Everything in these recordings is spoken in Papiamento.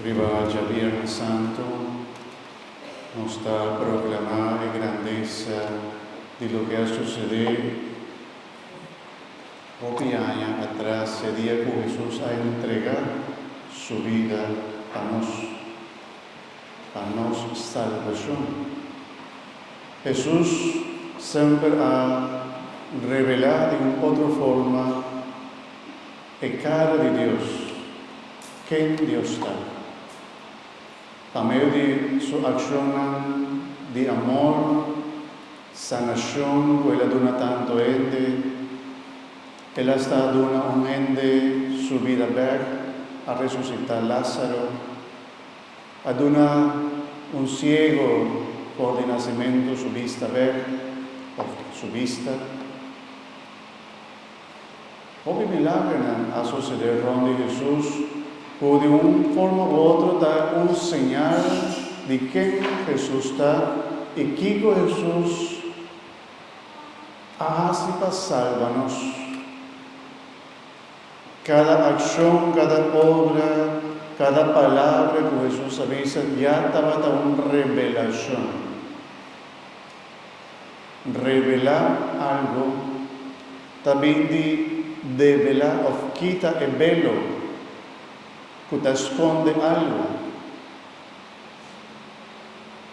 Riba dja Biernan Santu, nos ta proklamá e grandesa di loke a susedé hopi aña atras, e dia ku Hesus a entregá Su bida pa nos. pa nos salbacion. Hesus semper a revela den un otro forma e cara di Dios, ken Dios ta. Pa medio di Su accionnan di amor, sanacion cu El a duna tanto hende, El a sta a duna un hende Su bida bek, a resucita Lazaro. A duna un siego for di nasementu su bista bek, of su bista. Hopi milagernan a sosede rond di Hesus ku di un forma u otro ta un señal di ken Hesus ta i kiko Hesus a hasi pa salba nos. Cada accion, cada obra, cada palabra cu Jesús a bisa ya tabata un revelacion. Revela algo ta bin di devela of kita e belo cu ta sconde algo.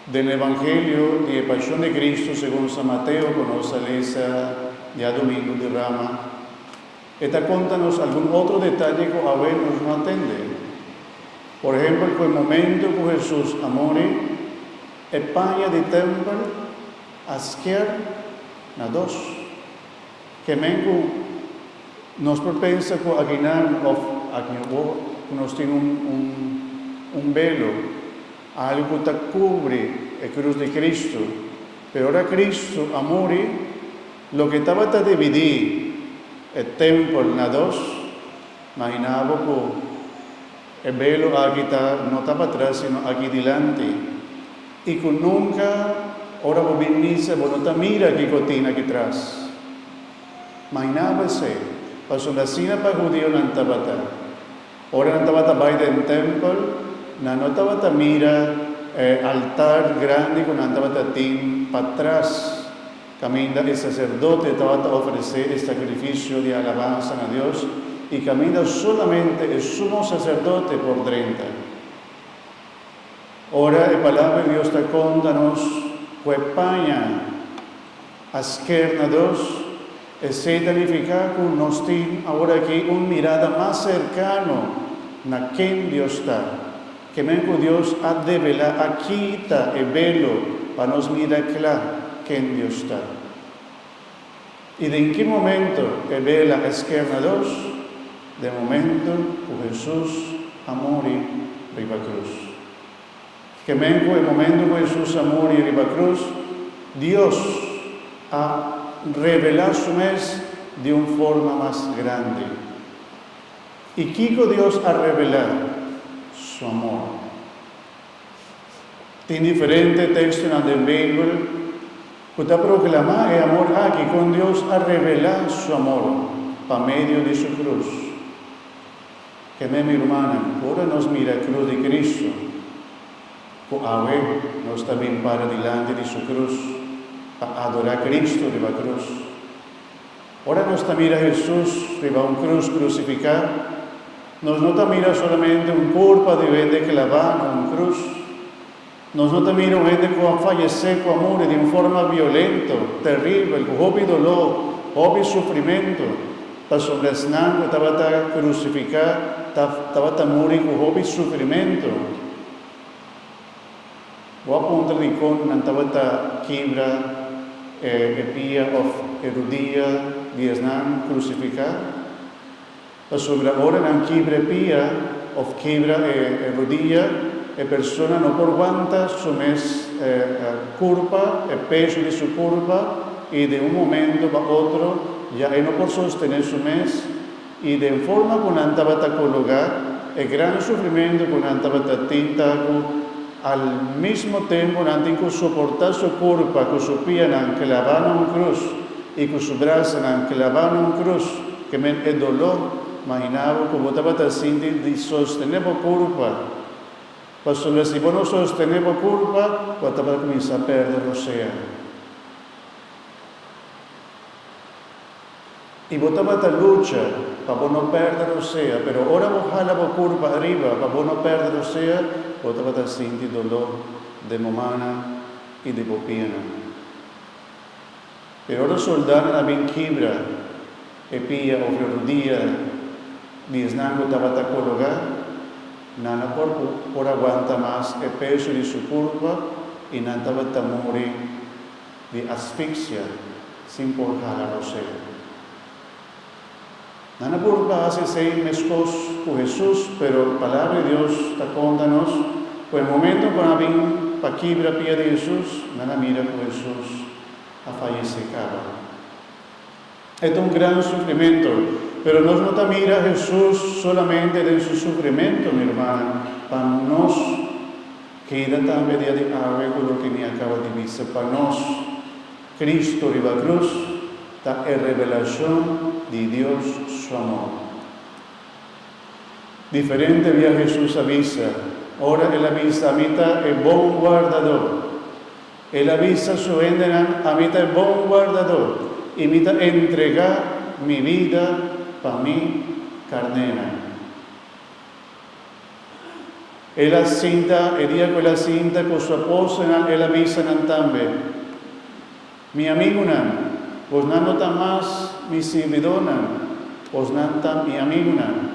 Den Evangelio di e Pasion di Cristo segun San Mateo cu nos a lesa diadomingo di Rama, E ta conta nos algun otro detaye cu awe nos no a tende. Por ehempel cu e momento cu Jesus a muri, e paña di tempel a skier na dos. Ke men cu nos por pensa cu aginan of aki awo cu nos tin un belo, algo cu ta cubri e cruz di Cristo. Pero ora Cristo a muri. Loke tabata dividí e tèmpel na dos, mahiná bo ku e belu aki ta no ta patras sino aki dilanti, i ku nunka ora bo bin misa bo no ta mira kiko tin aki tras. Mahiná bo esei, pasobra asina pa hudionan tabata. Ora nan tabata bai den tèmpel, nan no tabata mira e altar grandi ku nan tabata tin patras. Kaminda e saserdote tabata ofresé e sakrifisio di alabansa na Dios i kaminda solamente e sumo saserdote por drenta. Ora e Palabra di Dios ta konta nos ku e paña a sker na dos, esei ta nifiká ku nos tin aworakí un mirada mas serkano na ken Dios ta. Kimen ku Dios a develá a kita e belo pa nos mira kla ken Dios ta. I den ki momento e belo a esker na dos? Den momento ku Hesus a muri riba krus. Kimen ku e momento ku Hesus a muri riba krus Dios a revelá su mes di un forma mas grandi? I kiko Dios a revelá Su amor? Tin diferente tekstonan den Beibel ku ta proklamá e amor aki kon Dios a revelá Su amor pa medio di Su krus. Kende mi rumannan, ora nos mira e krus di Kristu, ku awe nos ta bin para dilanti di Su krus pa adorá Kristu riba krus, Ora nos ta mira Hesus riba un krus krusifiká, nos no ta mira solamente un korpa di un hende klavá na un krus. Nos no ta mira un hende ku a fayesé, ku a muri di un forma violento, teribel, ku hopi doló, hopi sufrimentu, pasobra esnan ku tabata krusifiká tabata muri ku hopi sufrimentu. Bo a puntra di con nan tabata kibra e e pia of e rudia di esnan crucifica? Pasobra ora nan kibra e pia of kibra e e rudia, e persona no por wanta su mes e e curpa, e peso di su curpa, y den un momento pa otro ya e no por sostene su mes. I den forma ku nan tabata kologá, e gran sufrimentu ku nan tabata tin ta ku al mismo tempu nan tin ku soportá su kurpa ku su pianan klabá na un krus i ku su brasanan klabá na un krus. Kemen e doló! Maginá bo ku bo tabata sinti di sostené bo kurpa. Pasobra si bo no sostené bo kurpa, bo a tabata kuminsá pèrdè bo sea. I bo tabata lucha pa bo no perde rosea, pero ora bo hala bo kurpa ariba pa bo no perde rosea, bo tabata sinti doló den bo mannan i den bo pianan. Pero ora soldánan a bin kibra e pia òf e rudia di esnan ku tabata kologá, nan a por por aguanta mas e peso di su kurpa i nan tabata muri. di asfixia sin por hala rosé. Nan apurdu pa hasi esei meskos ku Hesus, pero Palabra di Dios ta konta nos ku e momentu ku nan a bin pa kibra pia di Hesus, nan a mira ku Hesus a fayesé kaba. E ta un gran sufrimentu. Pero nos no ta mira Hesus solamente den su sufrimentu, mi rumannan, pa nos keda tambe dia di awe ku loke mi a kaba di bisa. Pa nos, Kristu riba krus ta e revelashon di Dios su amor. Diferente bia Hesus a bisa, ora el a bisa, Mi ta e bon wardadó. El a bisa su hendenan, Ami ta e bon guardadó, i mi ta entregá mi bida pa mi karnénan. El a sinta, e dia ku el a sinta ku su apòstelnan, el a bisa nan tambe, Mi amigunan, bosnan no ta mas mi sirbidónan, bosnan ta mi amigunan,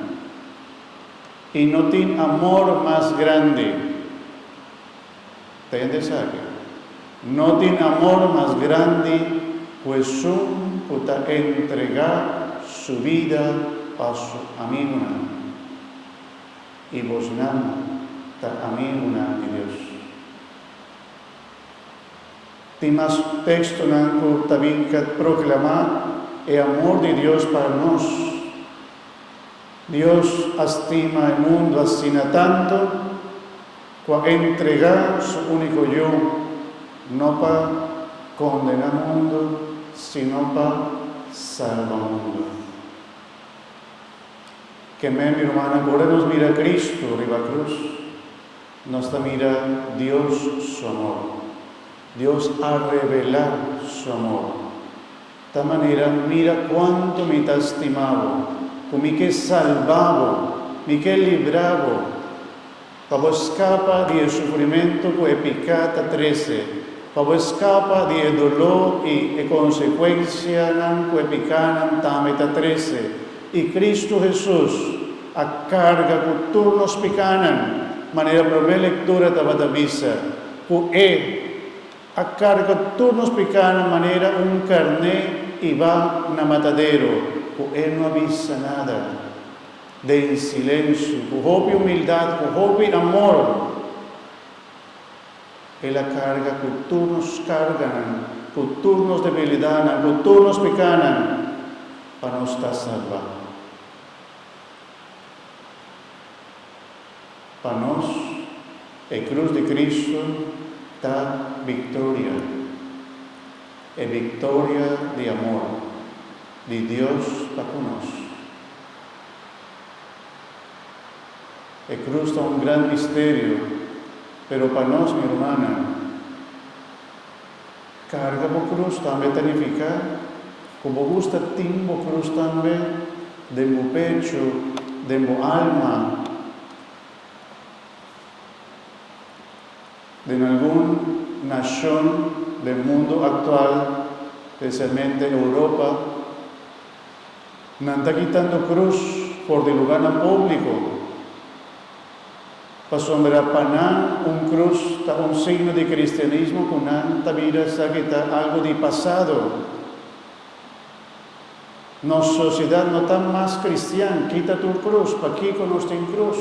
i no tin amor mas grandi. Ta yende esaki. No tin amor mas grandi ku esun ku ta entregá su bida pa su amigunan. I bosnan ta amigunan di Dios. Tin mas tekstonan ku ta bin proklamá e amor di Dios pa nos. Dios a stima e mundu asina tantu. Cu a entrega su unico Yu, no pa condena mundo, sino pa salba mundo. Kemé, mi rumannan, ora nos mira Cristo riba cruz, nos ta mira Dios su amor. Dios a revela su amor ta manera, mira cuanto mi ta stima bo, cu mi ke salba bo, mi ke libra bo. Pa bo skapa di e sufrimentu ku e piká ta trese, pa bo skapa di e doló i e konsekuensianan ku e pikánan tambe ta trese. I Kristu Hesus a karga ku tur nos pikánan, manera promé lektura tabata bisa, ku E a karga tur nos pikánan manera un karné i ba na matadero, ku E no a bisa nada. Den silencio, cu hopi humildad, cu hopi amor, El a carga cu tur nos carganan, cu tur nos debilidadnan, cu tur nos pecanan, pa nos ta salva. Pa nos, e cruz di Cristo ta victoria, e victoria di amor di Dios pa cu nos. E cruz ta un gran misterio, pero pa nos, mi rumannan, carga bo cruz tambe ta nifica cu bo gusta tin bo cruz tambe den bo pecho, den bo alma, den algun nacion den mundo actual, specialmente Europa. Nan ta kitando cruz for di lugarnan publico, pasobra pa nan un cruz ta un signo di cristianismo cu nan ta mira esaki ta algo di pasado. Nos sociedad no ta mas cristian. Kita tur cruz. Pakico nos tin cruz?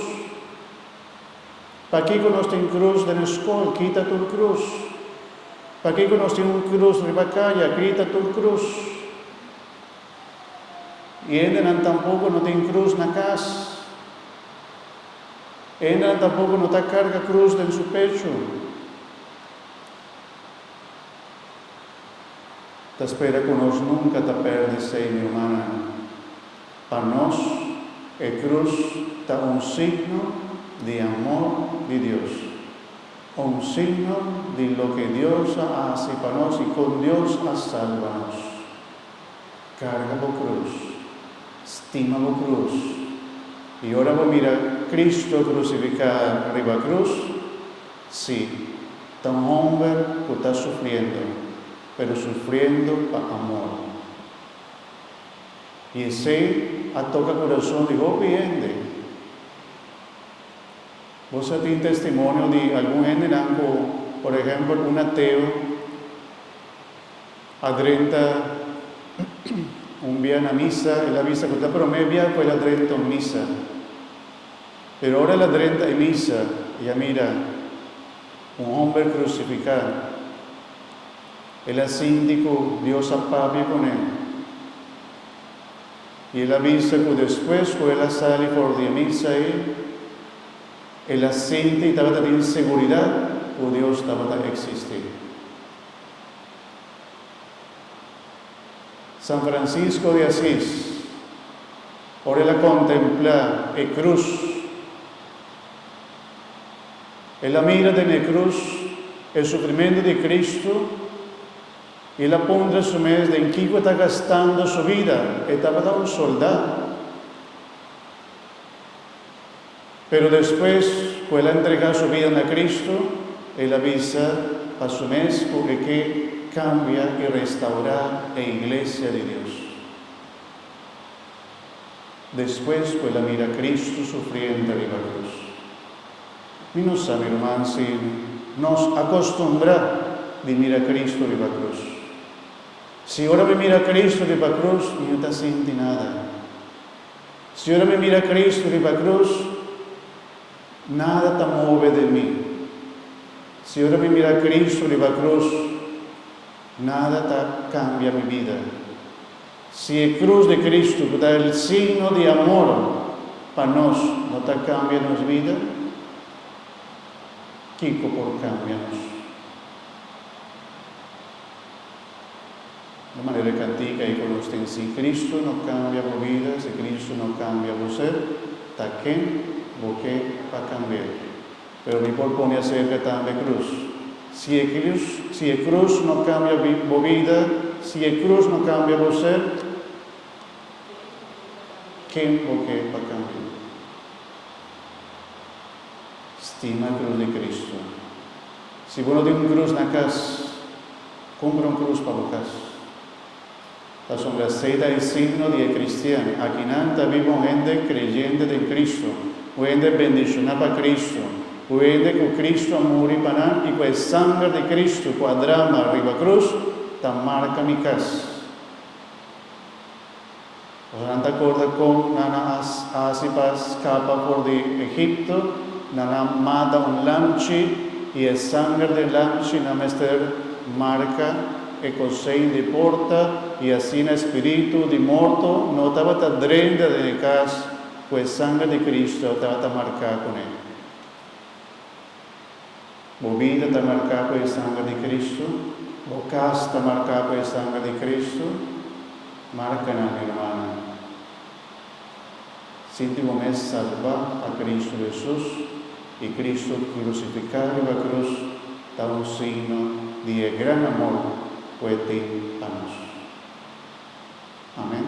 Pakico nos tin cruz den e scol? Kita tur cruz. Pakico nos tin un cruz riba caya? Kita tur cruz. I hendenan tampoko no tin krus na kas. E hendenan tampoko no ta karga krus den su pecho. Ta spera ku nos nunka ta pèrdè seña humana. Pa nos, e krus ta un signo di amor di Dios. Un signo di loke Dios a hasi pa nos i kon Dios a salba nos. Carga bo cruz. Stima bo cruz. I ora bo mira Cristo crucificá riba cruz, sí, ta un homber cu ta sufriendo, pero sufriendo pa amor. I esei a toca curason di hopi hende. Bo sa tin testimonio di algun hendenan cu, por ehempel, un ateo, A drenta un bia na misa, el a bisa cu ta prome bia cu el a drenta un misa. Pero ora el a drenta e misa, y a mira un homber crucifica, el a sinti cu Dios a papia cu ne, y el a bisa cu despues cu el a sali for di e misa ei, el a sinti y tabata tin seguridad cu Dios tabata existi. San Francisco di Asis, ora el a contempla e cruz, el a mira den e cruz e sufrimento di Cristo y el a puntra su mes den kico e ta gastando su vida. E tabata un soldá. Pero despues cu el a entrega su bida na Cristo, el a bisa pa su mes cu e ke cambia y restaura e Iglesia di Dios. Despues cu el a mira Cristo sufriente riba cruz. Mi no sa, mi ruman, si nos a costumbra di mira Cristo riba cruz. Si ora mi mira Cristo riba cruz, mi no ta sinti nada. Si ora mi mira Cristo riba cruz, nada ta move den mi. Si ora mi mira Cristo riba cruz, nada ta cambia mi bida. Si e cruz di Cristo cu ta el signo di amor pa nos no ta cambia nos bida, kico por cambia nos? di manera ca ticay cu nos tin si Cristo no cambia bo bida, si Cristo no cambia bo ser, ta ken bo ke pa cambia? Pero mi por pone acerca tambe cruz. Si e cruz, si e cruz no cambia bo bida, si e cruz no cambia bo ser, ken bo ke pa cambia? Stima cruz di Cristo. Si bo no tin un krus na kas, kumpra un krus pa bo kas. Pasobra esei ta e signo di e kristian. Akinan ta biba un hende kreyente den Kristu, un hende bendishoná pa Kristu, un hende ku Kristu a muri pa nan i ku e sanger di Kristu ku a drama riba krus ta marka mi kas. Boso no ta acorda con nan a haci pa scapa for di Egipto? Nan a mata un lamchi y e sanger di e lamchi no a mester marca e cosein di e porta, y asina e spiritu di morto no tabata drenta den e cas cu e sanger di Cristo tabata marca cu ne. Bo bida ta marcá cu e sanger di Cristo? Bo cas ta marcá cu e sanger di Cristo? Marcanan, hermannan, sinti bo mes salbá pa Cristo Jesus i Cristo crucificá riba cruz ta un signo di e gran amor cu E tin pa nos. Amen.